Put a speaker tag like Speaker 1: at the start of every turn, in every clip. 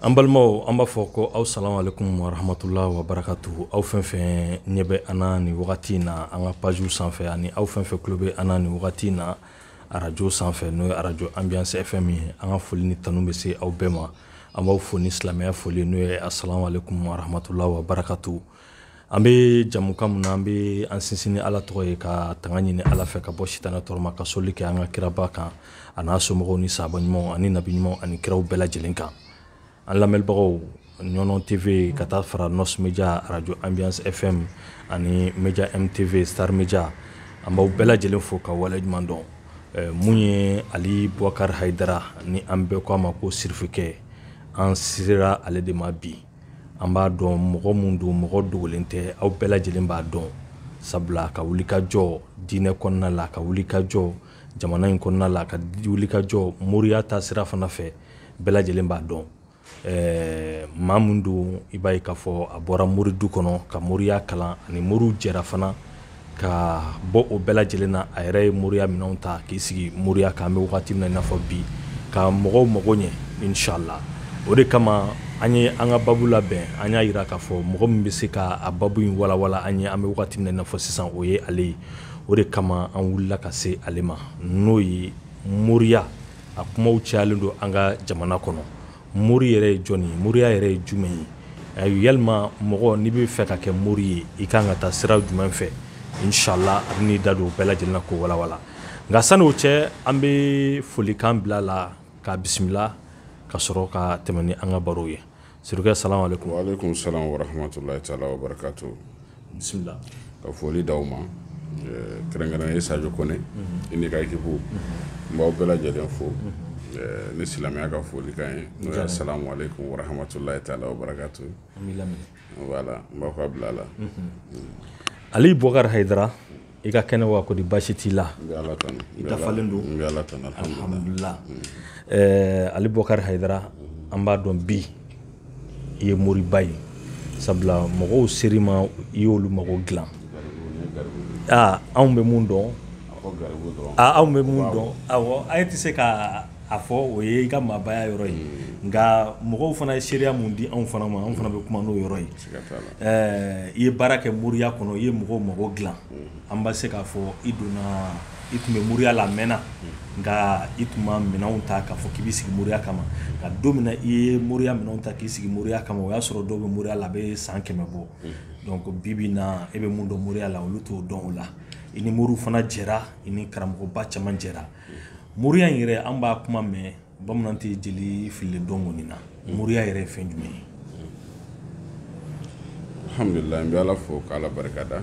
Speaker 1: an balimaw an b'a fɔ ko aw salamu alaikum warahmatula wa barakatuhu aw fɛn fɛn ɲɛ bɛ an na nin wagati in na an ka pajiw sanfɛ ani aw fɛn fɛn tulo bɛ an na nin wagati in na arajo sanfɛ n'o ye arajo ambiance fm ye an ka foli ni tanu bɛ se aw bɛɛ ma an b'aw fo ni silamɛya foli n'o ye asalamu alaikum warahmatula wa barakatuhu An bɛ jamukan min na an bɛ an sinsin ni Ala tɔgɔ ye ka tanga ɲini Ala fɛ ka bɔ sitanɛ tɔɔrɔ ma ka sɔli kɛ an ka kiraba kan a n'a somɔgɔw ni sahaba ɲumanw ani nabi ɲumanw ani kiraw bɛɛ lajɛlen kan an lamɛnbagaw ɲɔnɔn TV ka taa fara Nɔs Media arajo Ambiance FM ani Media M TV Star Media an b'aw bɛɛ lajɛlen fo ka wale ɲuman dɔn min ye Ali Bukari Hayidara ni an bɛɛ k'a ma ko sirifikɛ an sera ale de ma bi an b'a dɔn mɔgɔ min don mɔgɔ dogolen tɛ aw bɛɛ lajɛlen b'a dɔn sabula ka wuli ka jɔ diinɛ kɔnɔna la ka wuli ka jɔ jamana in kɔnɔna la ka wuli ka jɔ moriya ta sira fana fɛ bɛɛ lajɛlen b'a dɔn ɛɛ maa min don i b'a ye k'a fɔ a bɔra mori du kɔnɔ ka moriya kalan ani moriw jɛra fana ka bɔ o bɛɛ lajɛlen na a yɛrɛ ye moriya minɛnw ta k'i sigi moriya kan an bɛ wagati min na i n'a fɔ bi ka mɔgɔw mago ɲɛ inshallah o de kama an ye an ka babu labɛn an y'a yira k'a fɔ mɔgɔ min bɛ se ka a babu in walawala an ye an bɛ wagati min na i n'a fɔ sisan o ye ale ye o de kama an wulila ka se ale ma n'o ye moriya a kumaw cayalen don an ka jamana kɔnɔ mori yɛrɛ ye jɔn ye moriya yɛrɛ ye jumɛn ye a yalima mɔgɔ n'i b'a fɛ ka kɛ mori ye i ka kan ka taa sira jumɛn fɛ inshallah a bɛ n'i da don o bɛɛ lajɛlen na k'o walawala nka sani o cɛ an bɛ folikan bila a la k'a bisimila ka sɔrɔ ka tɛmɛ ni an ka baro ye salamu
Speaker 2: alaikum wa alaikum salam
Speaker 1: bisimila ka
Speaker 2: foli da aw ma eh, kɛrɛnkɛrɛn ye sajo kɔnɛ mhm. i n'i ka ekipu mhm. n b'aw bɛɛ lajɛlen fo mhm. eh, ni silamɛya ka folikan ye n'o ye asalamu aleykum warahamatulahi taala wa barakatu voilà n b'aw ka bila la mm.
Speaker 1: ali bɔkari hayidara i ka kɛnɛ wa kodi basi t'i la
Speaker 2: i dafalen
Speaker 1: don alhamdulila eh, ali bɔkari hayidara an b'a dɔn bi i ye moriba ye sabula mɔgɔw ser'i ma i y'olu mago dilan ah, anw bɛ mun dɔn ah, anw bɛ mun dɔn awɔ a yɛrɛ tɛ se ka a fɔ o ye i ka maabaya yɔrɔ ye nka mɔgɔw fana ye seereya min di anw fana ma anw fana bɛ kuma n'o yɔrɔ ye i ye baara kɛ moriya kɔnɔ i ye mɔgɔw mago dilan an bɛ se k'a fɔ i donna i tun bɛ moriya la a mɛnna nka i tun ma minɛnw ta k'a fɔ k'i bɛ sigi moriya kama nka don min i ye moriya minɛnw ta k'i sigi moriya kama o y'a sɔrɔ dɔw bɛ moriya la a bɛ san kɛmɛ bɔ donc bi bi in na e bɛ mun dɔn moriya la olu t'o dɔn o la i ni moriw fana jɛra i ni karamɔgɔba caman jɛra moriya in yɛrɛ an b'a kuma mɛn bamanan tɛ jeli fili dɔn kɔni na mm. moriya yɛrɛ ye fɛn jumɛn ye
Speaker 2: alhamdulilayi n bɛ ala fo ka ala barika da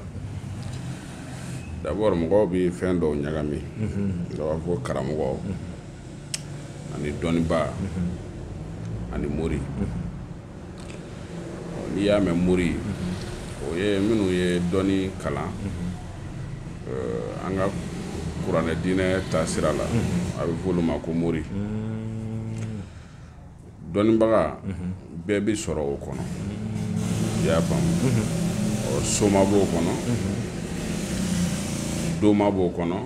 Speaker 2: d'abord mɔgɔw bɛ fɛn dɔw ɲagami mm-hmm. dɔ b'a fɔ karamɔgɔ mm-hmm. ani dɔnniba mm-hmm. ani mori n'i y'a mɛn mori o ye minnu ye dɔnni kalan eh, an ka kuranɛ diinɛ taasira la a bɛ fɔ olu ma ko mori dɔnnibaga bɛɛ bɛ sɔrɔ o kɔnɔ i y'a faamu ɔ soma b'o kɔnɔ doma b'o kɔnɔ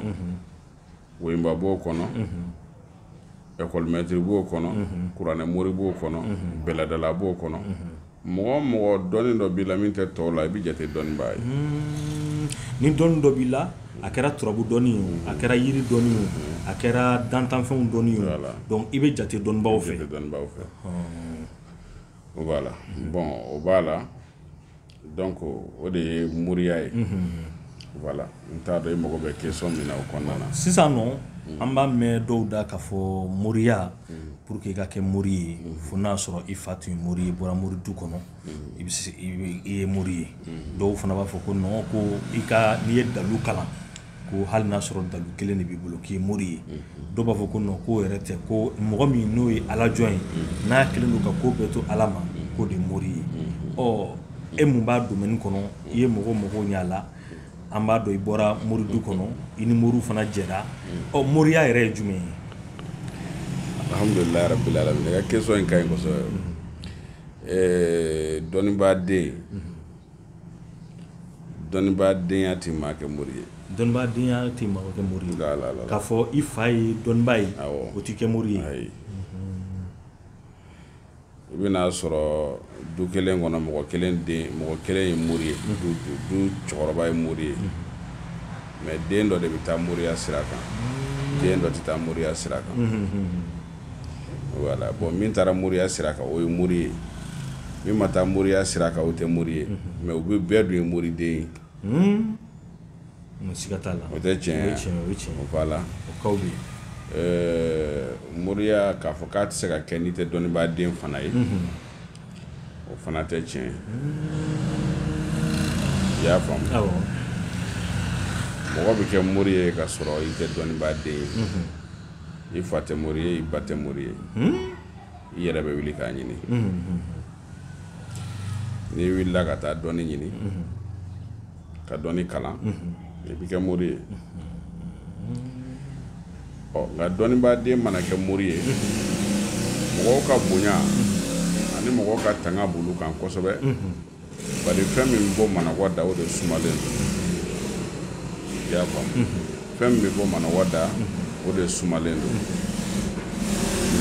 Speaker 2: woyiba b'o kɔnɔ ɛkɔlimɛtiri b'o kɔnɔ kuranɛ mori b'o kɔnɔ bɛlɛdala b'o kɔnɔ mɔgɔ o mɔgɔ dɔnni dɔ b'i la min tɛ tɔw la i bɛ jate dɔnnibaa ye ni
Speaker 1: dɔnni dɔ b'i la a kɛra turabu dɔnni ye a kɛra yiri dɔnni ye a kɛra dantanfɛnw dɔnni ye donc i bɛ jate dɔnnibaw fɛ voilà bon o b'a
Speaker 2: la Donc o de ye moriya ye voilà n t'a dɔn i mago bɛ question min na o kɔnɔna na sisan nɔ an
Speaker 1: b'a mɛn dɔw da k'a fɔ moriya pour que i ka kɛ mori ye fo n'a sɔrɔ i fa tun ye mori ye i bɔra mori du kɔnɔ i bɛ i ye mori ye dɔw fana b'a fɔ ko non ko i ka n'i ye dalu kalan ko hali n'a sɔrɔ dalu kelen de b'i bolo k'i mori ye dɔw b'a fɔ ko non k'o yɛrɛ tɛ ko mɔgɔ min n'o ye ala jɔn ye n'a kelen don ka ko bɛɛ to ala ma k'o de mori ye ɔ e mun b'a domaine kɔnɔ i ye mɔgɔw mago ɲɛ a la an b'a dɔn i bɔra mori du kɔnɔ i ni moriw fana jɛra ɔ moriya yɛrɛ ye jumɛn ye
Speaker 2: alhamdulilayi i ka question in ka ɲi kosɛbɛ dɔnnibaa den dɔnnibaadenya tɛ maa kɛ mori ye dɔnnibaadenya
Speaker 1: tɛ maa kɛ mori ye k'a fɔ i fa ye dɔnnibaa ye o t'i kɛ mori ye ayi i
Speaker 2: bɛna a sɔrɔ du kelen kɔnɔ mɔgɔ kelen ye mori ye du cɛkɔrɔba ye mori ye mais den dɔ de bɛ taa moriya sira kan den dɔ tɛ taa moriya sira kan voilà bon min taara moriya sira kan o ye mori ye min ma taa moriya sira kan o tɛ mori ye mais u bɛ bɛɛ dun ye moriden ye siga t'a la
Speaker 1: o tɛ tiɲɛ ye o ye tiɲɛ ye o
Speaker 2: ye tiɲɛ ye voilà o kaw bɛ yen
Speaker 1: ɛɛ moriya k'a
Speaker 2: fɔ k'a tɛ se ka kɛ n'i tɛ dɔnnibaaden fana ye o fana tɛ tiɲɛ ye i y'a faamu awɔ mɔgɔ bɛ kɛ mori ye ka sɔrɔ i tɛ dɔnnibaaden ye i fa tɛ mori ye i ba tɛ mori ye i yɛrɛ bɛ wuli k'a ɲini n'i wulila ka taa dɔnni ɲini ka dɔnni kalan i bɛ kɛ mori ye ɔ nka dɔnnibaaden mana kɛ mori ye mɔgɔw ka bonya ani mɔgɔw ka tanga b'olu kan kosɛbɛ bari fɛn min bɛ bɔ manɔgɔ da o de sumalen don i y'a faamu fɛn min bɛ bɔ manɔgɔ da o de sumalen don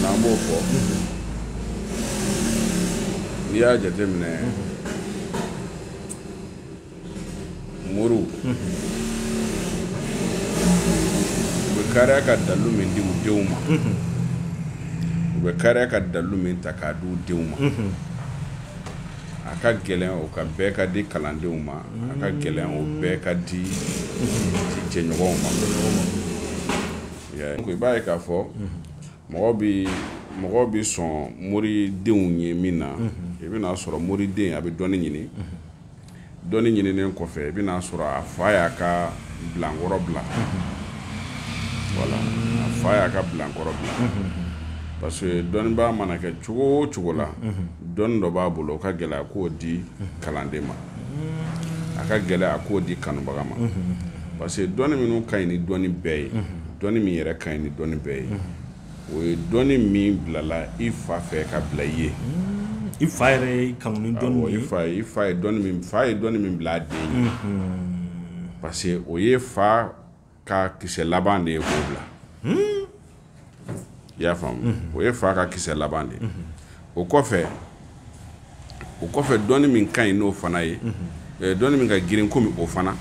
Speaker 2: n'an b'o fɔ n'i y'a jateminɛ moriw u bɛ kariya ka dalu min di u denw ma u bɛ kariya ka dalu min ta k'a di u denw ma a ka gɛlɛn o ka bɛɛ ka di kalandenw ma a ka gɛlɛn o bɛɛ ka di jɛɲɔgɔnw ma i b'a ye k'a fɔ mɔgɔ bɛ mɔgɔ bɛ sɔn moridenw ye min na i bɛna'a sɔrɔ moriden a bɛ dɔnni ɲini dɔnni ɲininen kɔfɛ i bɛna'a sɔrɔ a fa y'a ka bilankɔrɔ bila voilà a fa y'a ka bilankɔrɔ bila parce que dɔnnibaa mana kɛ cogo o cogo la dɔnni dɔ b'a bolo o ka gɛlɛ a k'o di kalanden ma a ka gɛlɛ a k'o di kanubaga ma parce que dɔnni min ka ɲi ni dɔnni bɛɛ ye dɔnni min yɛrɛ ka ɲi ni dɔnni bɛɛ ye o ye dɔnni min bilala i fa fɛ ka bila i ye i
Speaker 1: fa yɛrɛ kanu dɔnni ye
Speaker 2: fa ye dɔnni min bila a den ye parce que o ye fa ka kisɛ laban de ye k'o bila i y'a faamu o ye fa ka kisɛ laban de ye o kɔfɛ o kɔfɛ dɔnni min ka ɲi n'o fana ye eh, dɔnni min ka girin komi o fana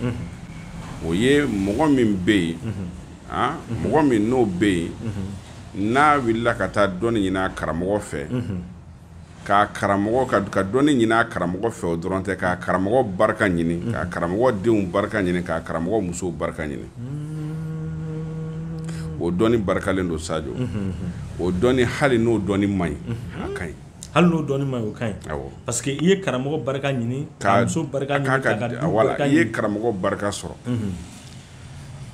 Speaker 2: o ye mɔgɔ min bɛ yen ah, mɔgɔ min n'o bɛ yen n'a wulila ka taa dɔnni ɲini a karamɔgɔ fɛ ka karamɔgɔ ka ka dɔnni ɲini a karamɔgɔ fɛ o dɔrɔn tɛ ka karamɔgɔ barika ɲini ka karamɔgɔ denw barika ɲini ka karamɔgɔ musow barika ɲini o dɔnni barikalen don sajo o dɔnni hali n'o dɔnni man ɲi a ka ɲi hali n'o dɔnni man ɲi
Speaker 1: o ka ɲi parce que i ye karamɔgɔ barika ɲini ka muso barika ɲini wala i ye karamɔgɔ
Speaker 2: barika sɔrɔ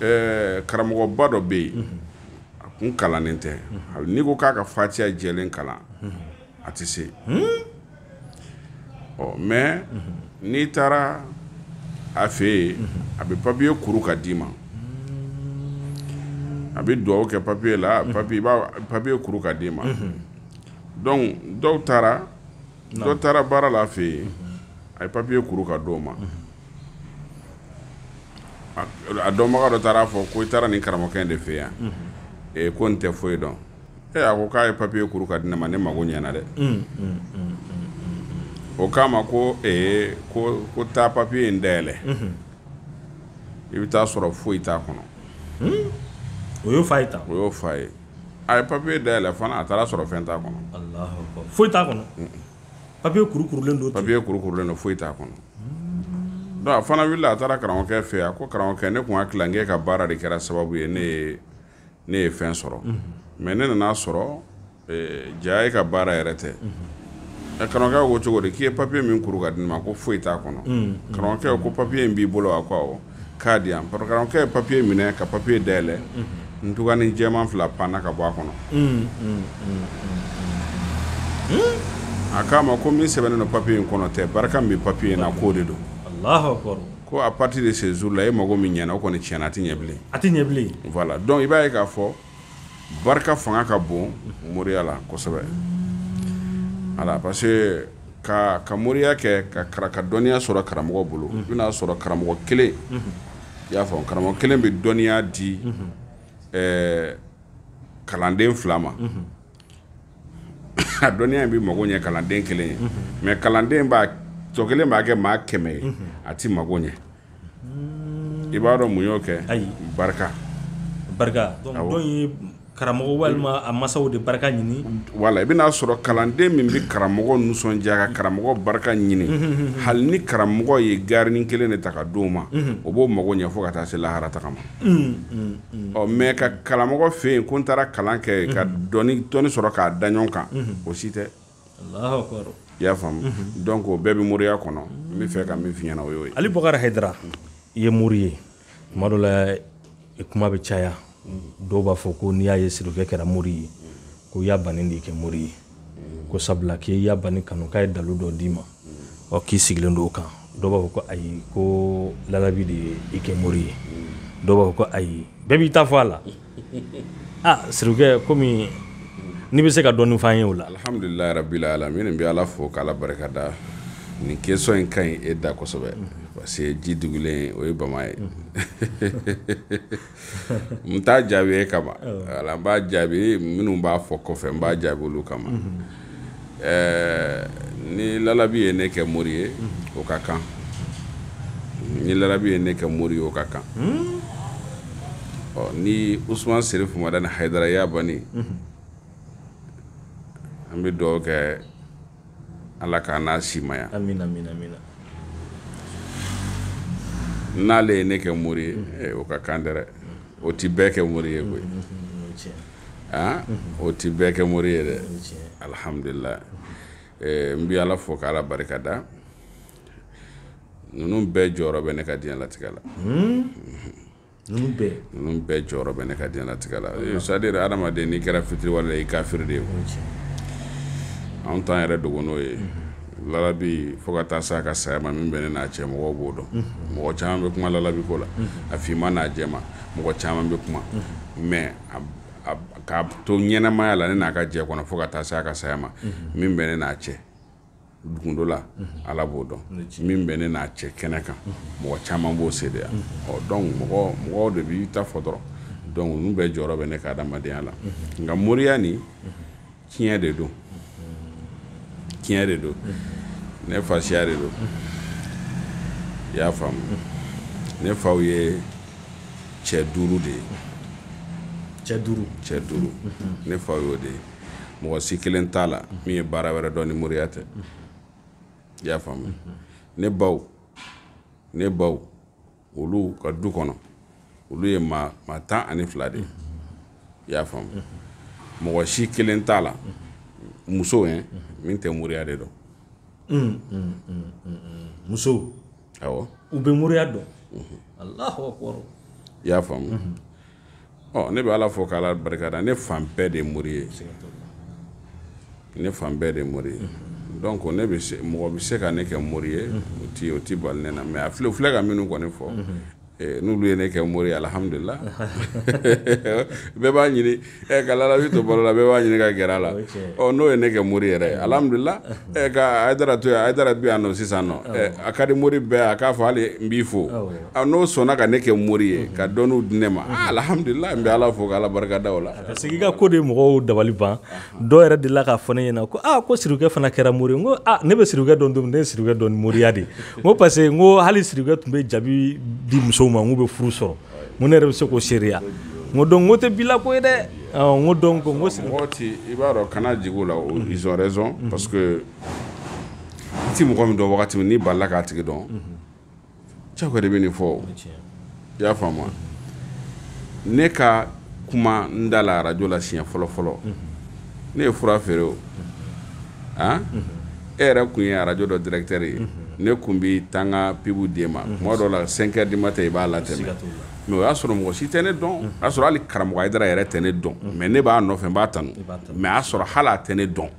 Speaker 2: ɛɛ karamɔgɔba dɔ bɛ yen a kun kalannen tɛ n'i ko k'a ka fatiya jɛlen kalan a tɛ se ɔ mais n'i taara a fɛ yen a bɛ papiye kuru ka d'i ma a bɛ dugawu kɛ papiye la papi papiye kuru ka d'i ma donc dɔ taara dɔ taara baara la a fɛ yen a ye papiye kuru ka d'o ma a dɔnbaga dɔ taara a fɔ ko i taara nin karamɔgɔkɛ de fɛ yan ko nin tɛ foyi dɔn Ee a ko k'a ye papiye kuru ka di ne ma ne mago ɲɛna dɛ o k'a ma ko ee ko ko taa papiye in dayɛlɛ i bɛ taa sɔrɔ foyi t'a kɔnɔ
Speaker 1: o y'o f'a ye tan o y'o f'a
Speaker 2: ye a ye papiye dayɛlɛ fana a taara sɔrɔ fɛn t'a kɔnɔ Alahu akibaru. foyi
Speaker 1: t'a kɔnɔ papiye kuru kurulen don ten. papiye kuru kurulen don foyi t'a
Speaker 2: kɔnɔ donc a fana wulila a taara karamɔgɔkɛ fɛ yen a ko karamɔgɔkɛ ne tun hakili la n k'e ka baara de kɛra sababu ye ne ye ne ye fɛn sɔrɔ mais ne nana a sɔrɔ eh, jaa e ka baara yɛrɛ tɛ eh, karamɔgɔkɛ ko cogo di k'i ye papiye min kuru ka di ne ma ko foyi t'a kɔnɔ karamɔgɔkɛ ko papiye in b'i bolo a ko awɔ k'a di yan karamɔgɔkɛ ye papiye minɛ ka papiye dayɛlɛ ntugani jɛman fila panna ka bɔ a kɔnɔ a k'a ma ko min sɛbɛnnen don papiye in kɔnɔ tɛ barika min bɛ papiye in na k'o de don Allahu akbar. Ko à partir de ce jour là e mago min ɲɛna o kɔni tiɲɛna a tɛ ɲɛ bilen. A tɛ ɲɛ bilen. Voilà donc i b'a ye k'a fɔ barika fanga ka bon moriya la kosɛbɛ. Voilà parce que ka ka moriya kɛ ka kara ka dɔnniya sɔrɔ karamɔgɔ bolo. I bɛna sɔrɔ karamɔgɔ kelen. I y'a faamu karamɔgɔ kelen bɛ dɔnniya di ɛɛ kalanden fila ma. a dɔnniya in bɛ mago ɲɛ kalanden kelen ye mais kalanden tɔ kelen b'a kɛ maa kɛmɛ ye a tɛ mago ɲɛ i b'a dɔn mun y'o kɛ ayi barika barika
Speaker 1: ye karamɔgɔ walima a masaw de barika ɲini voilà i bɛna a
Speaker 2: sɔrɔ kalanden min bɛ karamɔgɔ nisɔndiya ka karamɔgɔ barika ɲini hali ni karamɔgɔ ye garinin kelen de ta ka d'o ma o b'o mago ɲɛ fo ka taa se lahara tagama ɔ mais ka karamɔgɔ fɛ yen ko n taara kalan kɛ ka dɔnni sɔrɔ k'a da ɲɔgɔn kan o si tɛ i
Speaker 1: y'a faamu
Speaker 2: donc o bɛɛ bɛ moriya kɔnɔ n bɛ fɛ ka min f'i ɲɛna o y'o ye Ali Bakari
Speaker 1: Hayidara i ye mori ye tuma dɔ la kuma bɛ caya dɔw b'a fɔ ko n'i y'a ye sirikɛ kɛra mori ye ko y'a Bani de i kɛ mori ye ko sabula k'i y'a Bani kanu k'a ye dalu dɔ d'i ma ɔ k'i sigilen don o kan dɔw b'a fɔ ko ayi ko lalabi de ye i kɛ mori ye dɔw b'a fɔ ko ayi bɛɛ b'i ta fɔ a la a sirikɛ komi n'i bɛ se ka dɔɔnin f'an ye o la alhamdulilayi
Speaker 2: rabbil alamin n bɛ ala fo k'ala barika da nin question in ka ɲi e da kosɛbɛ parce que ji dugulen o ye bama ye n t'a jaabi e kama ala n b'a jaabi minnu b'a fɔ kɔfɛ n b'a jaabi olu kama ni lalabi ye ne kɛ mori ye o ka kan ni lalabi ye ne kɛ mori ye o ka kan ɔ ni usuman serifu madani hayidara y'a bani an bɛ dugawu kɛ Ala k'an n'a simaya n'ale ye ne kɛ mori ye o ka kan dɛ o tɛ bɛɛ kɛ mori ye koyi aa o tɛ bɛɛ kɛ mori ye dɛ alihamdulila n bɛ ala fo k'ala barika da ninnu bɛɛ jɔyɔrɔ bɛ ne ka diɲɛlatigɛ la ninnu bɛɛ ninnu bɛɛ jɔyɔrɔ bɛ ne ka diɲɛlatigɛ la Eh, c'est à dire adamaden n'i kɛra fitiriwale ye i kafiri de ye anw t'an yɛrɛ dogo n'o ye lalabi fo ka taa se a ka saya ma min bɛ ne n'a cɛ mɔgɔw b'o dɔn mɔgɔ caman bɛ kuma lalabi ko la a finman n'a jɛman mɔgɔ caman bɛ kuma mais a- a- k'a to ɲɛnamaya la ne n'a ka jɛ kɔnɔ fo ka taa se a ka saya ma min bɛ ne n'a cɛ dugundo la ala b'o dɔn min bɛ ne n'a cɛ kɛnɛ kan mɔgɔ caman b'o seedeya ɔ donc mɔgɔ mɔgɔw de b'i ta fɔ dɔrɔn donc ninnu bɛɛ jɔyɔrɔ bɛ ne ka adamadenya la nka moriya nin tiɲɛ de don tiɲɛ de don ne fasiya de don i y'a faamu ne faw ye cɛ duuru de ye cɛ duuru cɛ duuru ne faw y'o de ye mɔgɔ si kelen t'a la min ye baara wɛrɛ dɔn ni moriya tɛ i y'a faamu ne baw ne baw olu ka du kɔnɔ olu ye maa maa tan ani fila de ye i y'a faamu mɔgɔ si kelen t'a la muso ye min tɛ moriya de dɔn
Speaker 1: muso
Speaker 2: awɔ u bɛ moriya
Speaker 1: dɔn alahu akbar i y'a
Speaker 2: faamu mhm. ɔ ne bɛ ala fo k'ala barika da ne fan bɛɛ de ye mori ye ne fan bɛɛ de ye mori ye mhm. donc ne bɛ se mɔgɔ bɛ se ka ne kɛ mori ye mhm. o ti o ti bali ne na mais a filɛ filɛ ka minnu kɔni fɔ Eh, n'olu ye ne kɛ mori ye alihamdulila bɛɛ b'a ɲini eh, ka lalabi to balo la bɛɛ b'a ɲini ka gɛrɛ a la oh, n'o ye ne kɛ mori yɛrɛ ye alihamdulila eh, ka hayidara to yan hayidara bi yan nɔ sisan nɔ a ka di mori bɛɛ a k'a fɔ hali n b'i fo ah, n'o sɔnna ka ne kɛ mori ye ka dɔnniw di ne ma ah, alihamdulila n bɛ ala fo ka ala barika da o la parce que i ka ko de mɔgɔw
Speaker 1: dabali ban dɔw yɛrɛ delila k'a fɔ ne ɲɛna ko aa ah, ko sirikɛ fana kɛra mori ye n ko a ah, ne bɛ sirikɛ dɔn don min ne ye sirikɛ dɔn ni moriya de n ko parce que n ko hali sirikɛ tun bɛ jabi di musow ma n k'u bɛ furu sɔrɔ n ko ne yɛrɛ bɛ se k'o seereya n ko donc n k'o tɛ bi la ko ye dɛ n ko donc n ko mɔgɔ tɛ i
Speaker 2: b'a dɔn kana jigin o la ils ont raison parce que i tɛ mɔgɔ min dɔn wagati min n'i balila k'a tigi dɔn ca de bɛ nin fɔ i y'a faamu ne ka kuma n da la arajɔ la siɲɛ fɔlɔ fɔlɔ ne ye fura feere o a e yɛrɛ kun ye arajɔ dɔ directeur ye ne kun bɛ taa n ka pibu d'e ma tuma dɔ la cinq heures du matin i b'a latɛmɛ mais o y'a sɔrɔ mɔgɔ si tɛ ne dɔn o y'a sɔrɔ hali karamɔgɔ hayidara yɛrɛ tɛ ne dɔn mais ne b'a nɔfɛ n b'a tanu mais a y'a sɔrɔ hali a tɛ ne dɔn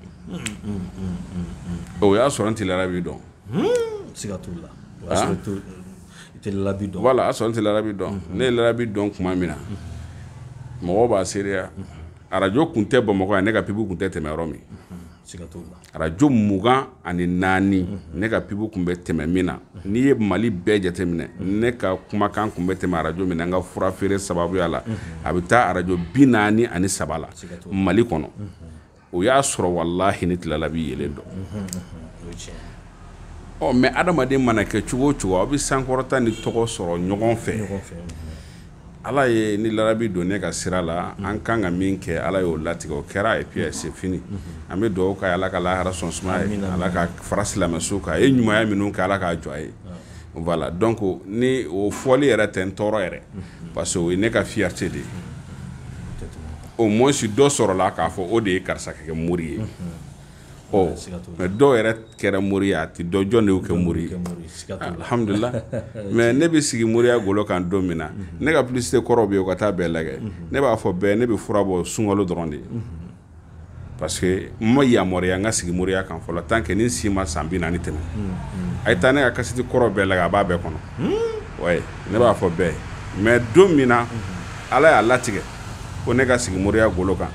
Speaker 2: o y'a sɔrɔ n tɛ lalabi dɔn hmm, siga
Speaker 1: t'o la o y'a sɔrɔ i t'o- i tɛ lalabi dɔn voilà a y'a sɔrɔ n tɛ lalabi
Speaker 2: dɔn ne ye lalabi dɔn tuma min na mɔgɔw b'a seereya arajo kun tɛ bamakɔ yan ne ka pibu kun tɛ tɛmɛ yɔrɔ min siga t'o la arajo mugan ani naani ne ka pibu kun bɛ tɛmɛ min na n'i ye mali bɛɛ jateminɛ ne ka kumakan kun bɛ tɛmɛ arajo min na n ka fura feere sababuya la a bɛ taa arajo bi naani ani saba la mali kɔnɔ o y'a sɔrɔ walahi ne tɛ lalabi yɛrɛ dɔn ɔ mais adamaden mana kɛ cogo o cogo aw bɛ sankɔrɔta ni tɔgɔ sɔrɔ ɲɔgɔn fɛ ala ye ni lalabi don ne ka sira la an kan ka min kɛ ala y'o latigɛ o kɛra et puis c'est fini an bɛ dugawu k'a ye ala ka lahara so suma a ye ala k'a fara silamɛ suw kan a ye ɲumanya minnu kɛ ala k'a jɔ a ye voilà donc ni o fɔli yɛrɛ tɛ n tɔɔrɔ yɛrɛ parce que o ye ne ka fierté de ye au moins dɔ sɔrɔla k'a fɔ o de ye karisa kɛ mori ye mais dɔw yɛrɛ kɛra mori ye a tɛ dɔn jɔn de y'o kɛ mori ye alhamdulillah mais ne bɛ sigi moriya golo kan don min na ne ka publicité kɔrɔ bɛ yen o ka taa bɛɛ lajɛ ne b'a fɔ bɛɛ ne bɛ fura bɔ sunkalo dɔrɔn de ye parce que n ma yamaruya n ka sigi moriya kan fɔlɔ tant que ne si ma san bi naani tɛmɛ a ye taa ne ka kasiti kɔrɔ bɛɛ lajɛ a b'a bɛɛ kɔnɔ ne b'a fɔ bɛɛ mais don min na ala y'a latigɛ ko ne ka sigi moriya golo kan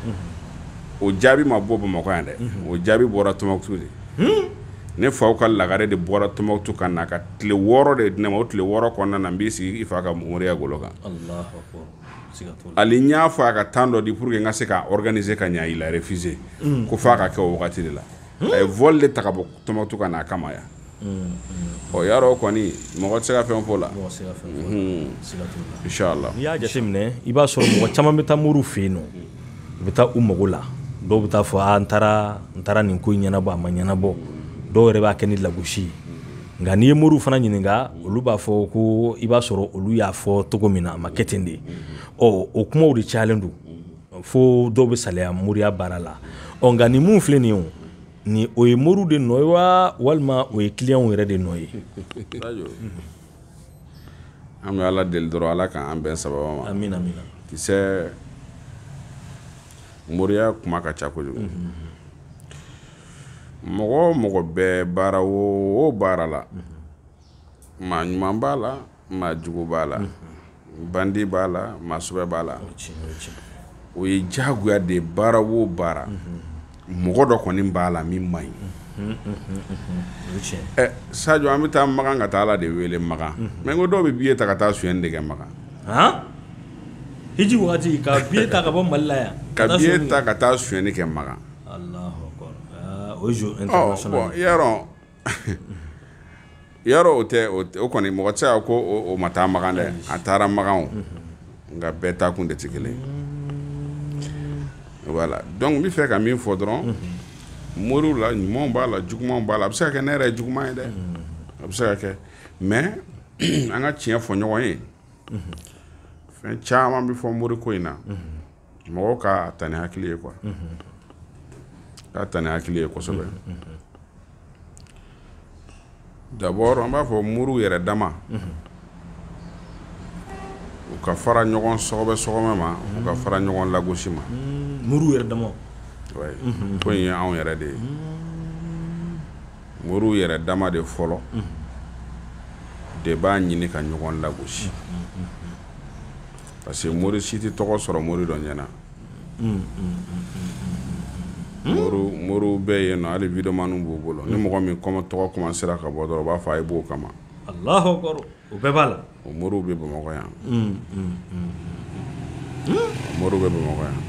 Speaker 2: o jaabi ma bɔ bamakɔ yan dɛ o jaabi bɔra tumutu de ne fa ka lagare de bɔra tumutu ka na ka tile wɔɔrɔ de di ne ma o tile wɔɔrɔ kɔnɔna na n b'i sigi i fa ka moriya golo kan hali n y'a fɔ a ka temps dɔ di pour que n ka se ka organiser ka ɲɛ il a refusé ko f'a ka kɛ o wagati de la a ye vol de ta ka bɔ tumutu ka na a kama yan ɔ y'a dɔn kɔni mɔgɔ tɛ se ka fɛn fɔ la inshallah n'i y'a jateminɛ
Speaker 1: i b'a sɔrɔ mɔgɔ caman bɛ taa moriw fɛ yen nɔ u bɛ taa u mago la dɔw bɛ taa fɔ a n taara n taara nin ko in ɲɛnabɔ a ma ɲɛnabɔ dɔw yɛrɛ b'a kɛ ni lagosi ye nka n'i ye moriw fana ɲininka olu b'a fɔ ko i b'a sɔrɔ olu y'a fɔ cogo min na a ma kɛ ten de ɔ o kumaw de cayalen don fo dɔw bɛ salaya moriya baara la ɔ nka nin min filɛ nin ye o Ni o ye moriw de nɔ ye wa walima o ye kiliyanw yɛrɛ de nɔ
Speaker 2: ye an bɛ ala deli dɔrɔn ala k'an bɛn sababu ma amiina kisɛ moriya kuma ka ca kojugu mɔgɔ o mɔgɔ bɛ baara o baara la maa ɲuman b'a la maa jugu b'a la bandi b'a la maa sɛbɛ b'a la o ye jagoya de baara wo baara mɔgɔ dɔ kɔni b'a la min man ɲi sajɔ an bɛ taa makan ka taa ala de wele makan mais n ko dɔw bɛ billet ta ka taa suyɛni de kɛ makan
Speaker 1: hiji waati ka billet ta ka bɔ mali la yan ka ta ka
Speaker 2: taa suyɛni kɛ makan
Speaker 1: o i
Speaker 2: ya o tɛ o kɔni mɔgɔ tɛ se ko o ma taa makan dɛ a taara makan nka bɛɛ taa kun de tɛ kelen voilà donc n bɛ fɛ ka min fɔ dɔrɔn moriw la ɲumanw b'a la jugumanw b'a la a bɛ se ka kɛ ne yɛrɛ juguman ye dɛ a bɛ se ka kɛ mais an ka tiɲɛ fɔ ɲɔgɔn ye fɛn caman bɛ fɔ mori ko in na mɔgɔw k'a ta ni hakili ye quoi k'a ta ni hakili ye kosɛbɛ d'abord an b'a fɔ moriw yɛrɛ dama u ka fara ɲɔgɔn sɔgɔbɛ sɔgɔmɛ ma u ka fara ɲɔgɔn lagosi ma moriw yɛrɛ
Speaker 1: dama
Speaker 2: ouais ko in ye anw yɛrɛ de ye moriw yɛrɛ dama de fɔlɔ de b'a ɲini ka ɲɔgɔn lagosi parce que mori si tɛ tɔgɔ sɔrɔ mori dɔ ɲɛna moriw bɛɛ yen nɔ hali vidéomaniw b'u bolo ni mɔgɔ min kɔma tɔgɔ commencera ka bɔ dɔrɔn u b'a fɔ a ye b'o kama o
Speaker 1: bɛɛ b'a la o moriw bɛ
Speaker 2: bamakɔ yan moriw bɛ bamakɔ yan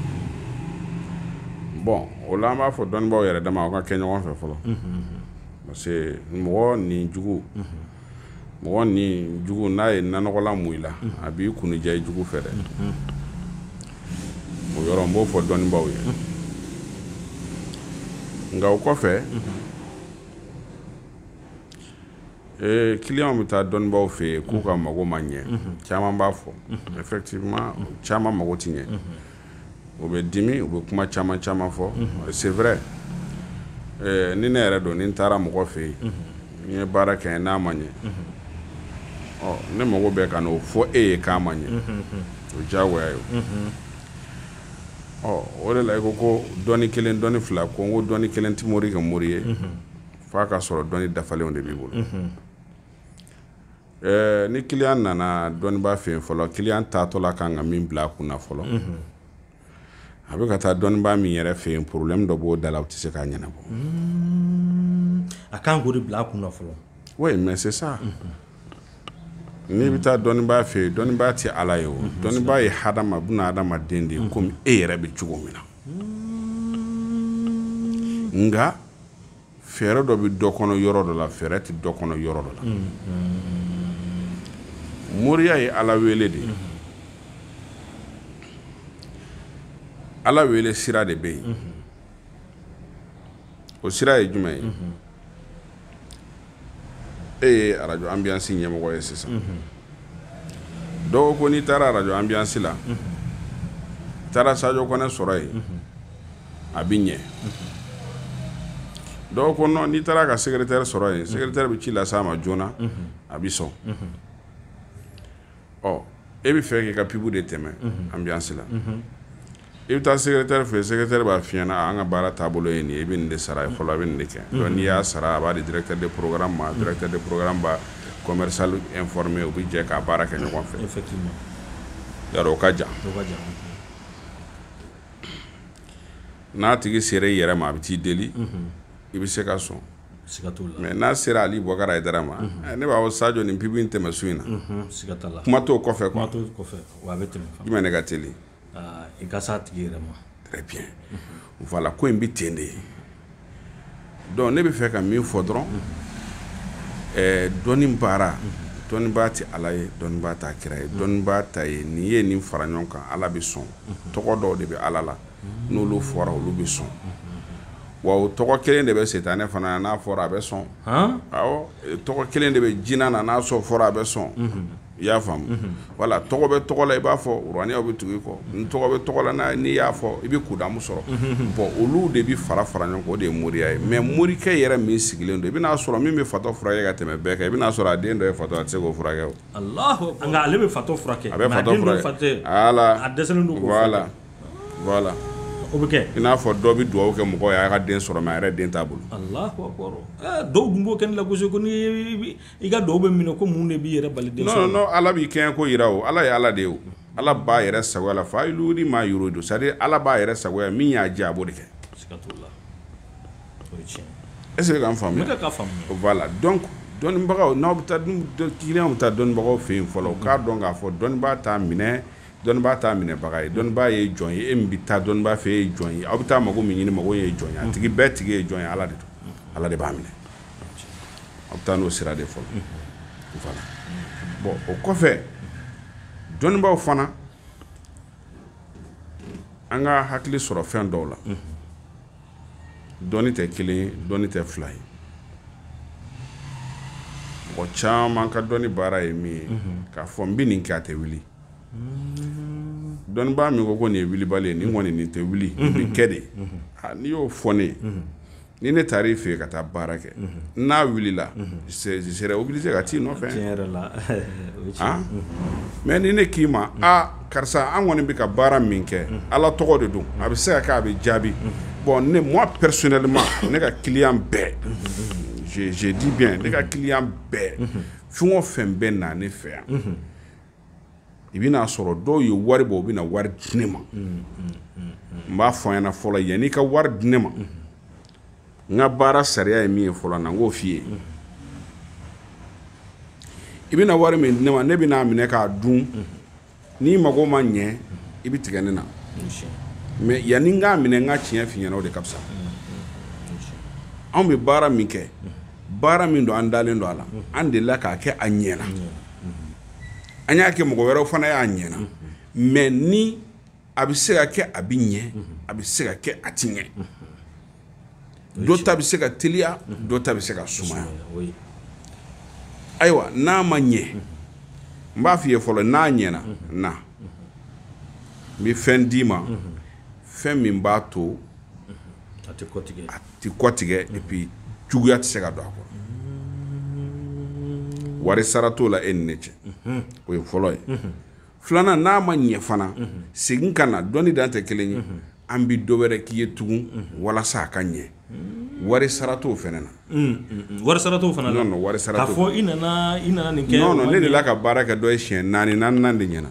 Speaker 2: bon o la an b'a fɔ dɔnnibaw yɛrɛ dama u ka kɛ ɲɔgɔn fɛ fɔlɔ parce que mɔgɔ nin jugu mɔgɔ ni jugu n'a ye nanɔgɔla mun i la a b'i kunja i jugu fɛ dɛ o yɔrɔ n b'o fɔ dɔnnibaw ye nka o kɔfɛ ee kiliyanw bɛ taa dɔnnibaw fɛ yen k'u ka mago ma ɲɛ caman b'a fɔ effectivement caman mago tɛ ɲɛ o bɛ dimi u bɛ kuma caman caman fɔ c'est vrai ni ne yɛrɛ don ni n taara mɔgɔ fɛ yen n ye baara kɛ n'a ma ɲɛ ne mago bɛ ka na o fɔ e ye k'a ma ɲɛ o diyagoya ye ɔ o de la i ko ko dɔnni kelen dɔnni fila ko n ko dɔnni kelen tɛ mori kɛ mori ye fo a ka sɔrɔ dɔnni dafalenw de b'i bolo Ɛɛ ni kiliyan nana dɔnniba fɛ yen fɔlɔ kiliyan taatɔla ka kan ka min bila a kunna fɔlɔ a bɛ ka taa dɔnniba min yɛrɛ fɛ yen problème dɔ b'o da la u tɛ se k'a ɲɛnabɔ
Speaker 1: a kan k'o de bila a kunna fɔlɔ oui mais c'est
Speaker 2: ça n'i bɛ taa dɔnniba fɛ yen dɔnniba tɛ ala ye o dɔnniba ye ha ma bɛ hadamaden de ye komi e yɛrɛ bɛ cogo min na nka fɛɛrɛ dɔ bɛ dɔ kɔnɔ yɔrɔ dɔ la fɛɛrɛ tɛ dɔ kɔnɔ yɔrɔ dɔ la mm, mm. moriya ye ala wele de ye mm-hmm. ala wele sira de bɛ yen mm-hmm. o sira ye jumɛn ye mm-hmm. e ye arajo anbiyansi ɲɛmɔgɔ ye sisan dɔw ko n'i taara arajo anbiyansi la taara sajo kɔnɛ sɔrɔ yen a bɛ ɲɛ dɔw ko n'i taara ka secrétaire sɔrɔ yen secrétaire bɛ ci lase a ma joona a bɛ sɔn ɔ e bɛ fɛ k'i ka pub de tɛmɛ anbiyansi la i bɛ taa secrétaire fɛ secrétaire b'a f'i ɲɛna an ka baara taabolo ye nin ye i bɛ nin de sara fɔlɔ a bɛ nin de kɛ n'i y'a sara a b'a di directeur de programme ma directeur de programme b'a commercial informé u bɛ jɛ k'a baara kɛ ɲɔgɔn fɛ ka jan n'a tigi sera i yɛrɛ ma a bɛ t'i deli i bɛ se ka sɔn mais n'a sera ali bokari ayidara ma ne b'a fɔ sajo nin pub in tɛmɛ su in na kuma t'o kɔfɛ jumɛn ne ka teli i ka
Speaker 1: s'a tigi yɛrɛ
Speaker 2: ma voilà ko in bɛ ten de donc ne bɛ fɛ ka min fɔ dɔrɔn dɔnni baara dɔnnibaa tɛ ala ye dɔnnibaa t'a kira ye dɔnnibaa ta ye n'i ye nin fara ɲɔgɔn kan ala bɛ sɔn tɔgɔ dɔw de bɛ ala la n'olu fɔra olu bɛ sɔn wa o tɔgɔ kelen de bɛ setanɛ fana na n'a fɔra a bɛ sɔn wa o tɔgɔ kelen de bɛ jinɛ na n'a sɔrɔ fɔra a bɛ sɔn i y'a faamu mhm. voilà tɔgɔ bɛ tɔgɔ la i b'a fɔ uraniyaw bɛ tugu i kɔ n tɔgɔ bɛ tɔgɔ la n'i y'a fɔ i bɛ kudamu sɔrɔ mhm. bɔn olu de bɛ fara fara ɲɔgɔn kan o de ye moriya ye mais morikɛ yɛrɛ min sigilen don i bɛna'a sɔrɔ min bɛ fatɔ furakɛ ka tɛmɛ bɛɛ kan i bɛna'a sɔrɔ a den dɔ ye fatɔ a tɛ se k'o furakɛ o nka ale
Speaker 1: bɛ fatɔ furakɛ a bɛ
Speaker 2: fatɔ furakɛ ala a dɛsɛlen don voilà voilà o bɛ kɛ
Speaker 1: i n'a fɔ dɔ bɛ dugawu
Speaker 2: kɛ mɔgɔ ye a ka den sɔrɔ mais a yɛrɛ den t'a bolo
Speaker 1: dɔw dun b'o kɛ ne lagosi ko i ka duwawu bɛ minɛ ko mun de b'i yɛrɛ bali den sɔrɔ non Ala b'i kɛɲɛ ko
Speaker 2: jira o Ala ye Ala de ye o Ala b'a yɛrɛ sagoya la faalu limaa yuridu c'est à dire Ala b'a yɛrɛ sagoya min y'a diya a b'o de kɛ siga t'o la o ye tiɲɛ est ce que k'an faamuya n bɛ k'a faamuya voilà donc dɔnnibagaw n'aw bɛ taa client bɛ taa dɔnnibagaw fɛ yen fɔlɔ u k'a dɔn k'a fɔ dɔnnibaa t'a minɛ dɔnnibaa t'a minɛbaga ye dɔnnibaa ye jɔn ye e min bɛ taa dɔnnibaa fɛ e ye jɔn ye aw bɛ taa mago min ɲini mago ye jɔn ye a tigi bɛɛ tigi ye jɔn ye Ala de don Ala de b'a minɛ aw bɛ taa n'o sira de fɔlɔ voilà bɔn o kɔfɛ dɔnnibaaw fana an ka hakili sɔrɔ fɛn dɔw la dɔnni tɛ kelen ye dɔnni tɛ fila ye mɔgɔ caman ka dɔnni baara ye min ye k'a fɔ n bɛ nin kɛ a tɛ wuli dɔnnibaa min ko ko nin ye wulibali ye nin kɔni nin tɛ wuli nin bɛ kɛ dɛ n'i y'o fɔ ne ye ni ne taara i fɛ ka taa baara kɛ n'a wulila je serai obligé ka t'i nɔfɛ mais ni ne k'i ma aa karisa an kɔni bɛ ka baara min kɛ ala tɔgɔ de don a bɛ se ka kɛ a bɛ jaabi bon ne moi personnellement ne ka client bɛɛ je dis bien ne ka client bɛɛ fɛn o fɛn bɛ na ne fɛ yan i bɛna a sɔrɔ dɔw ye wari bɔ u bɛna wari di ne ma n b'a fɔ a ɲɛna fɔlɔ yanni i ka wari di ne ma n ka baara sariya ye min ye fɔlɔ na n k'o f'i ye i bɛna wari min di ne ma ne bɛna a minɛ k'a dun n'i mago ma ɲɛ i bɛ tigɛ ne na mais yanni n k'a minɛ n ka tiɲɛ f'i ɲɛna o de ka fisa anw bɛ baara min kɛ baara min don an dalen don a la an delila k'a kɛ a ɲɛna an y'a kɛ mɔgɔ wɛrɛ fana y'a ɲɛna mais ni a bɛ se ka kɛ a bɛ ɲɛ a bɛ se ka kɛ a tɛ ɲɛ dɔ ta bɛ se ka teliya dɔ ta bɛ se ka sumaya ayiwa n'a ma ɲɛ n b'a fɔ i ye fɔlɔ n'a ɲɛna na n bɛ fɛn d'i ma fɛn min b'a to a tɛ kɔtigɛ a tɛ kɔtigɛ et puis juguya tɛ se ka don a kɔrɔ wari sara t'o la e ni ne cɛ o ye fɔlɔ ye filanan n'a ma ɲɛ fana segin ka na dɔnni dan tɛ kelen ye an bi dɔ wɛrɛ k'i ye tugun walasa a ka ɲɛ wari sara t'o fana na wari sara t'o
Speaker 1: fana na non wari sara t'o fɔ i
Speaker 2: nana
Speaker 1: i
Speaker 2: nana
Speaker 1: nin kɛ non non ne delila ka baara
Speaker 2: kɛ dɔ ye siɲɛ naani naaninan de ɲɛna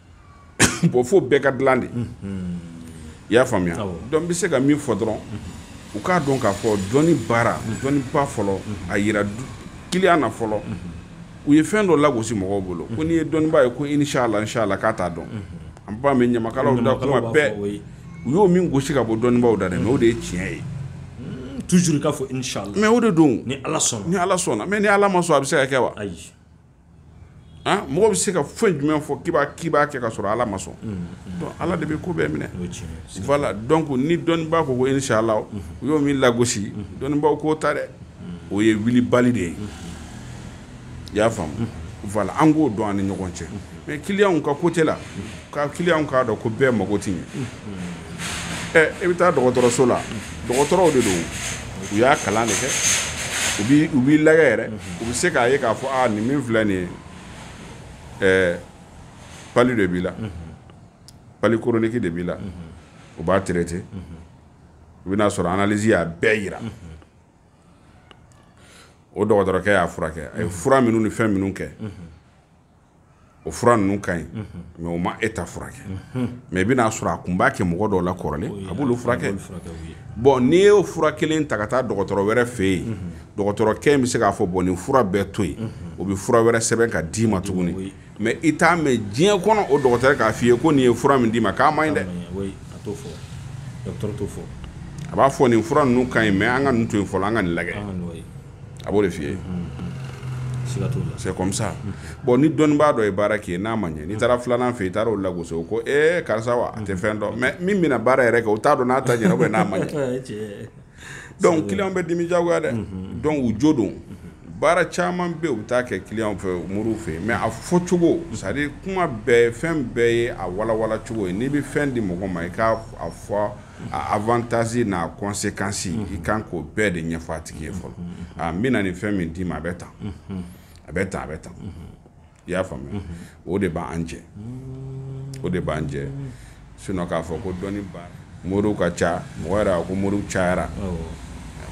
Speaker 2: bon fo bɛɛ ka dilan de i y'a faamuya donc n bɛ se ka min fɔ dɔrɔn u k'a dɔn k'a fɔ dɔnni baara dɔnniba fɔlɔ a yira client na fɔlɔ u ye fɛn dɔ lagosi mɔgɔw bolo ko n'i ye dɔnniba ye ko inshallah k'a t'a dɔn an b'a mɛn ɲamakalaw da kuma bɛɛ u y'o min gosi ka bɔ dɔnnibaw da dɛ mais o de ye tiɲɛ ye
Speaker 1: toujours k'a fɔ inshallah mais o de don ni ala
Speaker 2: sɔnna ni ala
Speaker 1: sɔnna mais ni ala ma sɔn a bɛ
Speaker 2: se ka kɛ wa ayi ah, mɔgɔ bɛ se ka fɛn jumɛn fɔ k'i k'i b'a kɛ ka sɔrɔ ala ma sɔn mm, mm. ala de bɛ ko bɛɛ minɛ voilà donc ni dɔnnibaa ko ko inshallah mm-hmm. u y'o min lagosi mm-hmm. dɔnnibaaw k'o ta dɛ mm-hmm. o ye wilibali de ye i y'a faamu voilà an k'o dɔn an ni ɲɔgɔn cɛ mais client ka côté la ka client k'a dɔn ko bɛɛ mako tɛ ɲɛ i bɛ taa dɔgɔtɔrɔso la dɔgɔtɔrɔw de don u y'a kalan de kɛ u b'i lagɛ yɛrɛ u bɛ se k'a ye k'a fɔ nin min filɛ nin ye palu de b'i la palu chronique de b'i la u b'a traiter u bɛna a sɔrɔ analyse y'a bɛɛ yira o dɔgɔtɔrɔkɛ y'a furakɛ a ye fura minnu ni fɛn minnu kɛ o fura ninnu ka ɲi mais o ma e ta furakɛ mais i bɛna a sɔrɔ a kun b'a kɛ mɔgɔ dɔw la kɔrɔlen a b'olu furakɛ bon n'i y'o fura kelen ta ka taa dɔgɔtɔrɔ wɛrɛ fɛ yen dɔgɔtɔrɔkɛ in bɛ se k'a fɔ bon nin fura bɛɛ to yen o bɛ fura wɛrɛ sɛbɛn ka d'i ma tuguni mais i t'a mɛn diɲɛ kɔnɔ o dɔgɔtɔrɔ k'a f'i ye ko nin ye fura min d'i ma k'a man ɲi dɛ a b'a fɔ nin fura ninnu ka ɲi mais an ka nin to yen fɔlɔ an ka nin lajɛ a b'o de f'i ye c'est comme ça bon ni dɔnnibaa dɔ ye baara k'i ye n'a ma ɲɛ n'i taara filanan fɛ i taara o lagosi ko e karisa wa a tɛ fɛn dɔn mais min bɛna baara yɛrɛ kɛ o t'a dɔn n'a ta ɲɛna n'a ma ɲɛ donc client bɛ dimi jagoya dɛ donc u jo don baara caman bɛ yen u bɛ taa kɛ client fɛ moriw fɛ yen mais a fɔ cogo c'est à dire kuma bɛɛ fɛn bɛɛ ye a walawala cogo ye n'i bɛ fɛn di mɔgɔ ma i k'a fɔ a avantage n'a conséquence i kan k'o bɛɛ de ɲɛfɔ a tigi ye fɔlɔ a n bɛna nin fɛn min d'i ma a bɛ tan a bɛ tan a bɛ tan i y'a faamuya o de b'an jɛ o de b'an jɛ sinon k'a fɔ ko dɔnnibaa moriw ka ca mɔgɔ yɛrɛ a ko moriw cayara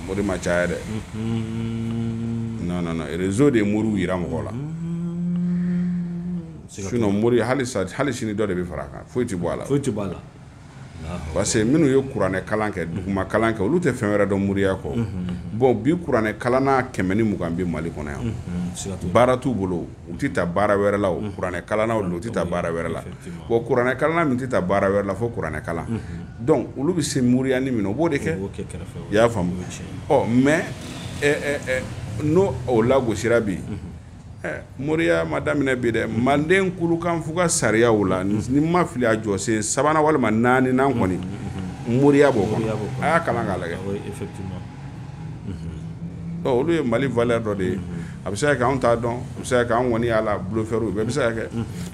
Speaker 2: mori ma caya dɛ non non non réseau de ye moriw yira mɔgɔ la sinon mori hali sa hali sini dɔ de bɛ fara a kan foyi tɛ bɔ a la foyi tɛ bɔ a la parce que minnu ye kuranɛ kalan kɛ duguma kalan kɛ olu tɛ fɛn wɛrɛ dɔn moriya kɔ bon bi kuranɛ kalanna kɛmɛ ni mugan bɛ mali kɔnɔ yan baara t'u bolo u tɛ taa baara wɛrɛ la kuranɛ kalan u tɛ taa baara wɛrɛ la bon kuranɛ kalanna min tɛ taa baara wɛrɛ la fo kuranɛ kalan donc olu bɛ se moriyanin min na o b'o de kɛ i y'a faamu mais n'o o lagosira bi Eh, moriya ma daminɛ bi dɛ manden kulukanfuga sariyaw la ni n ma fili a jɔsen sabanan walima naaninan kɔni moriya b'o kɔnɔ a y'a kalan k'a lajɛ ah olu ye mali valeur dɔ de ye a bɛ se ka kɛ anw t'a dɔn a bɛ se ka kɛ an kɔni y'a la bluffeur bɛɛ bɛ se ka kɛ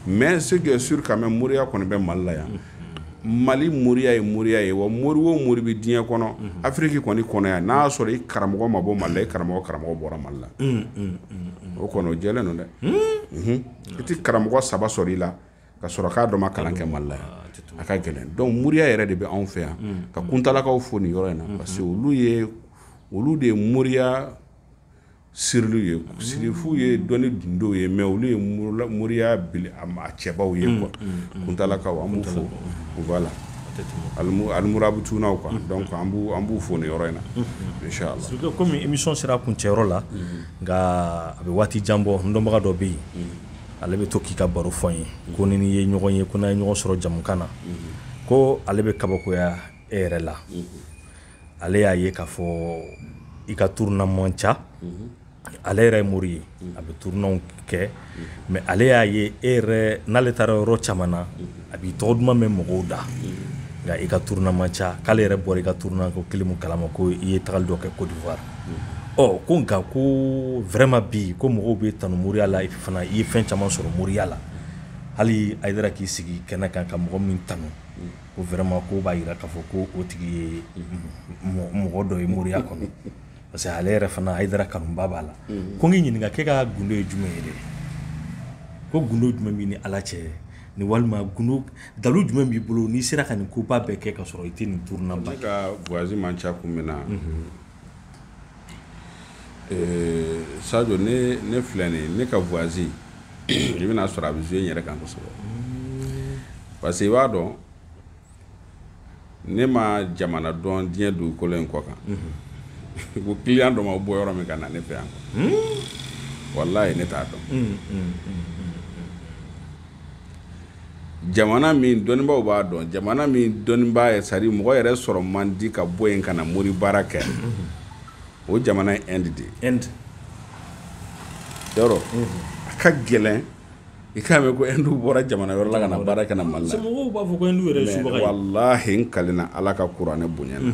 Speaker 2: mais ce qui est sûr quand même moriya kɔni bɛ mali la yan mali moriya ye moriya ye wa mori o mori bɛ diɲɛ kɔnɔ afiriki kɔni kɔnɔ yan n'a y'a sɔrɔ i karamɔgɔ ma bɔ mali la i karamɔgɔ karamɔgɔ bɔra mali la o kɔni o jɛlen don dɛ i tɛ karamɔgɔ saba sɔrɔ i la ka sɔrɔ k'a dɔ ma kalan kɛ mali la yan a ka gɛlɛn donc moriya yɛrɛ de bɛ anw fɛ yan ka kuntalakaw fo nin yɔrɔ in na parce que olu ye olu de ye moriya sirili ye sirifu ye dɔnni dundenw ye mais olu ye moriya cɛbaw ye quoi kuntalakaw an b'u fo voilà alimurabutunuw quoi an b'u fo nin yɔrɔ in na comme émission
Speaker 1: sera kuncɛyɔrɔ la nka a bɛ waati jan bɔ n dɔnbaga dɔ bɛ yen ale bɛ to k'i ka baro fɔ n ye ko ni ye ɲɔgɔn ye ko n'a ye ɲɔgɔn sɔrɔ jamukan na ko ale bɛ kabakoya e yɛrɛ la ale y'a ye k'a fɔ i ka turuna man ca mhm. ale yɛrɛ ye mori ye mhm. a bɛ turunanw kɛ mhm. mais ale y'a ye e yɛrɛ n'ale taara yɔrɔ caman na a b'i tɔgɔ duman mɛn mɔgɔw da nka i ka turuna man ca k'ale yɛrɛ bɔra i ka turuna ko kelen min kalama ko i ye tagali dɔ kɛ Côte d'Ivoire ɔ ko nka ko vraiment bi ko mɔgɔw b'e tanu moriya la fana i ye fɛn caman sɔrɔ moriya la hali Hayidara k'i sigi kɛnɛ kan ka mɔgɔ min tanu ko vraiment ko o b'a yira k'a fɔ ko o tigi ye mɔgɔ dɔ ye moriya kɔnɔ parce que ale yɛrɛ fana Hayidara kanuba b'a la mm-hmm. ko n k'i ɲininka k'e ka gundo ye jumɛn ye de ko gundo jumɛn b'i ni ala cɛ ni walima gundo dalu jumɛn b'i bolo n'i sera ka nin koba bɛɛ kɛ ka sɔrɔ i tɛ nin turunaba kɛ i ka voyage man
Speaker 2: ca kun min na mm-hmm. Ee sajo ne filɛ nin ne ka voyage i bɛn'a sɔrɔ a bɛ jouer n yɛrɛ kan kosɛbɛ parce que i b'a dɔn ne ma jamana dɔn diɲɛ dugukolo in kɔ kan ko client dɔ ma bɔ yɔrɔ min ka na ne fɛ yan walahi ne t'a dɔn jamana min dɔnnibaw b'a dɔn jamana min dɔnniba ye sari mɔgɔ yɛrɛ sɔrɔ man di ka bɔ yen ka na mori baara kɛ o jamana ye Inde de ye yɔrɔ a ka gɛlɛn i k'a mɛn ko indiw bɔra jamana yɔrɔ la ka na baara kama mali la mɔgɔw b'a fɔ ko indiw yɛrɛ
Speaker 1: ye subaga ye walahi n kalenna
Speaker 2: ala ka kuranɛ bonya na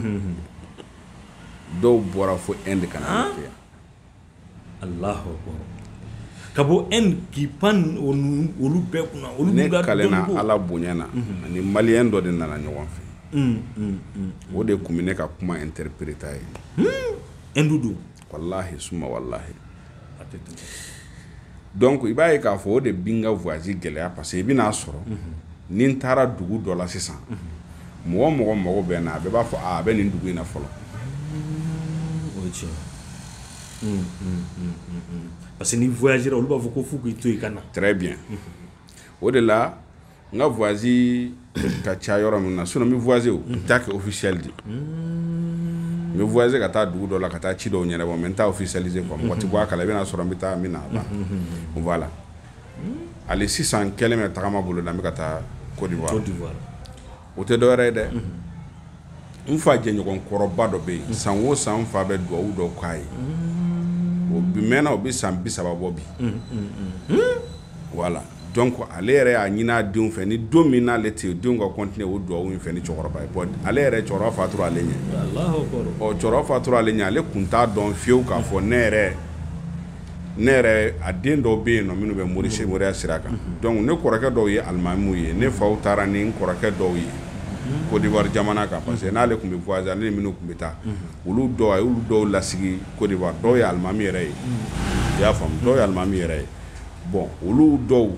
Speaker 2: dɔw bɔra fo Inde ka na ne fɛ yan
Speaker 1: Allahu akbar ka bɔ Inde k'i pan olu bɛɛ kunna olu ne kalenna
Speaker 2: ala bonya na a ni maliyɛn dɔ de nana ɲɔgɔn fɛ o de kun bɛ ne ka kuma interpréter a ye Inde
Speaker 1: don
Speaker 2: walahi suma walahi donc i b'a ye k'a fɔ o de bi n ka voyage gɛlɛya parce que i bɛn'a sɔrɔ ni n taara dugu dɔ la sisan mɔgɔ o mɔgɔ mago bɛ n na a bɛɛ b'a fɔ a bɛ nin dugu in na fɔlɔ
Speaker 1: parce que ni n voyagera olu b'a fɔ ko fo k'i to yen ka na très bien
Speaker 2: o de la n ka voyage ka ca yɔrɔ min na sinon n bɛ voyager o n t'a kɛ officiel de n bɛ voyager ka taa dugu dɔ la ka taa ci dɔw ɲɛnabɔ mais n t'a officialiser quoi mɔgɔ tɛ bɔ a kala i bɛn'a sɔrɔ n bɛ taa n bɛ na voilà hali sisan n kɛlen bɛ tagama bolo la n bɛ ka taa Côte d'Ivoire o tɛ dɔwɛrɛ ye dɛ n fa jɛɲɔgɔn kɔrɔba dɔ bɛ yen san o san n fa bɛ dugawu dɔ k'a ye o bi mɛnna o bɛ san bi saba bɔ bi voilà donc ale yɛrɛ y'a ɲinin a denw fɛ ni don min n'ale tɛ yen denw ka continuer o dugawu in fɛ nin cɛkɔrɔba ye ale yɛrɛ cɛkɔrɔba fatura ale ɲɛ ɔ cɛkɔrɔba fatura ale ɲɛ ale kun t'a dɔn fiyewu k'a fɔ ne yɛrɛ ne yɛrɛ a den dɔw bɛ yen nɔ minnu bɛ mori se moriya sira kan donc ne kɔrɔkɛ dɔw ye alimamiw ye ne fa taara ni n kɔrɔkɛ dɔw ye Côte d'Ivoire jamana kan parce que n'ale tun bɛ voyager ale ni minnu tun bɛ taa olu dɔw a y'olu dɔw lasigi Côte d'Ivoire dɔw ye alimami yɛrɛ ye i y'a faamu dɔw ye alimami yɛrɛ ye bon olu dɔw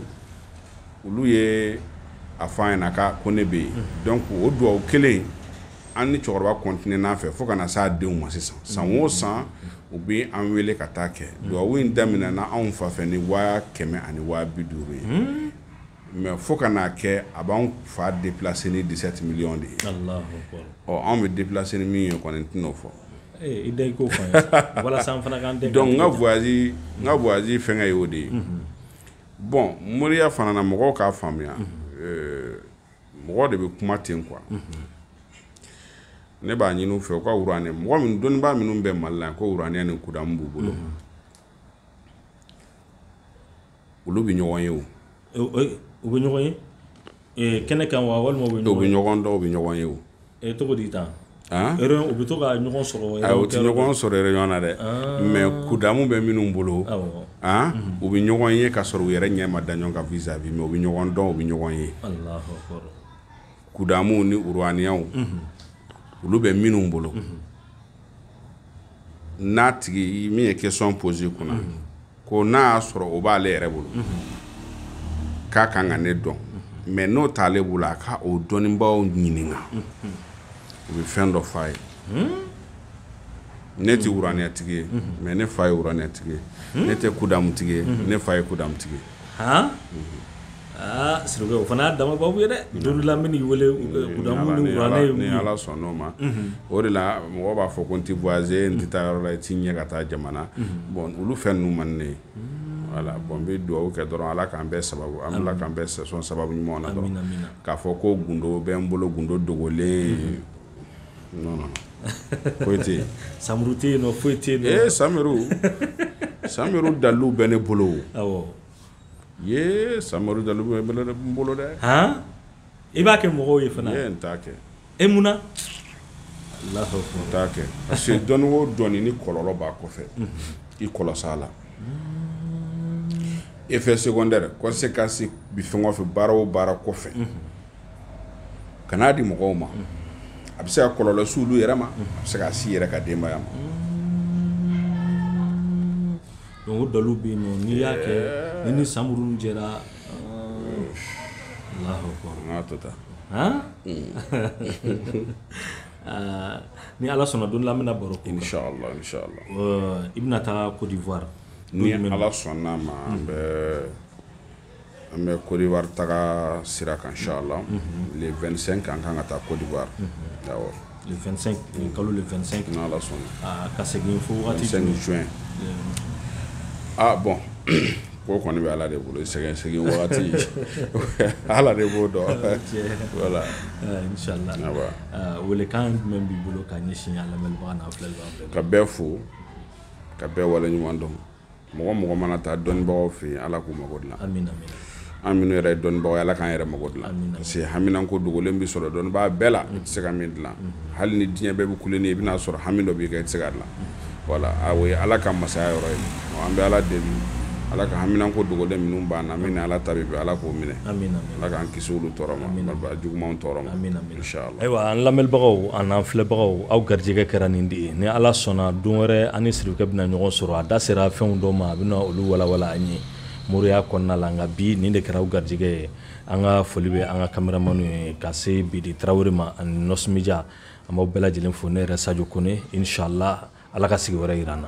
Speaker 2: olu ye a fɔ an ɲɛna ko ne bɛ yen donc o dugawu kelen an ni cɛkɔrɔba kɔntinena a fɛ fo ka na s'a denw ma sisan san o mm-hmm. san u bɛ an wele ka taa kɛ mm-hmm. dugawu in daminɛna anw fa fɛ ni waa kɛmɛ ani waa bi duuru ye mm-hmm. mais fo ka n'a kɛ a b'an fa déplacer ni dix-sept millions de ye ɔ anw bɛ déplacer ni min ye kɔni n tɛn'o fɔ eh, i da i
Speaker 1: k'o fɔ an ye walasa an fana k'an dɛmɛ donc n ka voyage
Speaker 2: n ka voyage fɛngɛ ye o de ye bon moriya fana na mɔgɔw k'a faamuya euh, mɔgɔ de bɛ kuma ten quoi ne b'a ɲini u fɛ u ka wuraniya mɔgɔ min dɔnnibaa minnu bɛ Mali la ko wuraniya ni kudamu b'u bolo olu bɛ ɲɔgɔn ye o u
Speaker 1: bɛ ɲɔgɔn ye kɛnɛ kan wa walima u bɛ ɲɔgɔn dɔn u bɛ ɲɔgɔn ye
Speaker 2: o
Speaker 1: E tɔgɔ di tan u bɛ to ka ɲɔgɔn sɔrɔ u tɛ ɲɔgɔn sɔrɔ
Speaker 2: réunion na dɛ mais kudamu bɛ minnu bolo u bɛ ɲɔgɔn ye ka sɔrɔ u yɛrɛ ɲɛ ma da ɲɔgɔn kan vis-à-vis mais u bɛ ɲɔgɔn dɔn u bɛ ɲɔgɔn ye kudamu ni wuraniyaw olu bɛ minnu bolo n'a tigi min ye question poser kunna ko n'a y'a sɔrɔ o b'ale yɛrɛ bolo k'a ka kan ka ne dɔn mais n'o t'ale bolo a ka o dɔnnibaaw ɲininka u bɛ fɛn dɔ f'a ye ne tɛ wuraniyatigi ye mais ne fa ye wuraniyatigi ye ne tɛ kudamutigi ye ne fa ye kudamutigi ye
Speaker 1: Aa s o fana y'a dama baabu ye dɛ don dɔ la n bɛ n'i wele kudamu ni wuraniya ye mun ye ni ala sɔnn'o
Speaker 2: ma o de la mɔgɔ b'a fɔ ko n tɛ voyager n tɛ taa yɔrɔ la i t'i ɲɛ ka taa jamana bon olu fɛn ninnu man ne ye voilà bon n bɛ dugawu kɛ dɔrɔn ala k'an bɛɛ sababu an ala k'an bɛɛ son sababu ɲumanw na dɔrɔn k'a fɔ ko gundo bɛ n bolo gundo dogolen foyi tɛ Samuru tɛ yen
Speaker 1: foyi tɛ Samiru dalilu
Speaker 2: bɛ ne bolo sa bolo dɛ
Speaker 1: i b'a kɛ mɔgɔw ye fana n t'a kɛ
Speaker 2: e mun na n t'a kɛ parce que dɔnni o dɔnni ni kɔlɔlɔ b'a kɔfɛ i kɔlɔsi a la effet secondaire conséquence bɛ fɛn o fɛn baara o baara kɔfɛ kan'a di mɔgɔw ma a bɛ se ka kɔlɔlɔ se olu yɛrɛ ma a bɛ se ka s'i yɛrɛ ka denbaya ma
Speaker 1: Donc o dalilu bɛ yen nɔn n'i y'a kɛ ni ni samuru jɛra taa aa ni ala sɔnna don la an bɛna baro kɛ i bɛna
Speaker 2: taa Côte d'Ivoire
Speaker 1: ni ala sɔnna
Speaker 2: a ma bɛ An bɛ Côte d'Ivoire taga sira kan inchallah le 25 an ka kan ka taa Côte
Speaker 1: d'Ivoire kalo le 25 ni ala
Speaker 2: sɔnna ka segin fo waati jumɛn aa bon ko kɔni bɛ ala de bolo segin segin waati ala de b'o dɔn voilà
Speaker 1: welekan jumɛn b'i bolo ka ɲɛsin lamɛnbagaw ka bɛɛ fo
Speaker 2: ka bɛɛ waleɲuman dɔn mɔgɔ mɔgɔ mana taa dɔnnibagaw fɛ yen ala k'u mago
Speaker 1: dilan an minnu
Speaker 2: yɛrɛ ye dɔnnibagaw ye ala k'an yɛrɛ mako dilan parce que haminanko dogolen bɛ sɔrɔ dɔnnibaa bɛɛ la i tɛ se ka min dilan hali ni diɲɛ bɛɛ bɛ ku nin i bɛna a sɔrɔ hami dɔ b'i kan i tɛ se ka dilan voilà o ye ala ka masaya yɔrɔ ye an bɛ ala deli ala ka haminanko dogolen minnu b'an na min ni ala ta bɛ bɛn ala k'o minɛ ala k'an kisi olu tɔɔrɔ ma juguman tɔɔrɔ ma ayiwa an
Speaker 1: lamɛnbagaw ani an filɛbagaw aw garijɛgɛ kɛra nin de ye ni ala sɔnna don wɛrɛ an ni sirikɛ bɛna ɲɔgɔn sɔrɔ a da sera fɛnw dɔw ma a bɛna olu walawala an ye moriya kɔnɔna la nka bi nin de kɛra aw garijɛgɛ ye an ka foli bɛ an ka kameramani ye ka se bidi tarawele ma ani nɔsɔn media an b'aw bɛɛ lajɛlen fo ne yɛrɛ sajo kone inchallah ala ka sigi wɛrɛ yira an na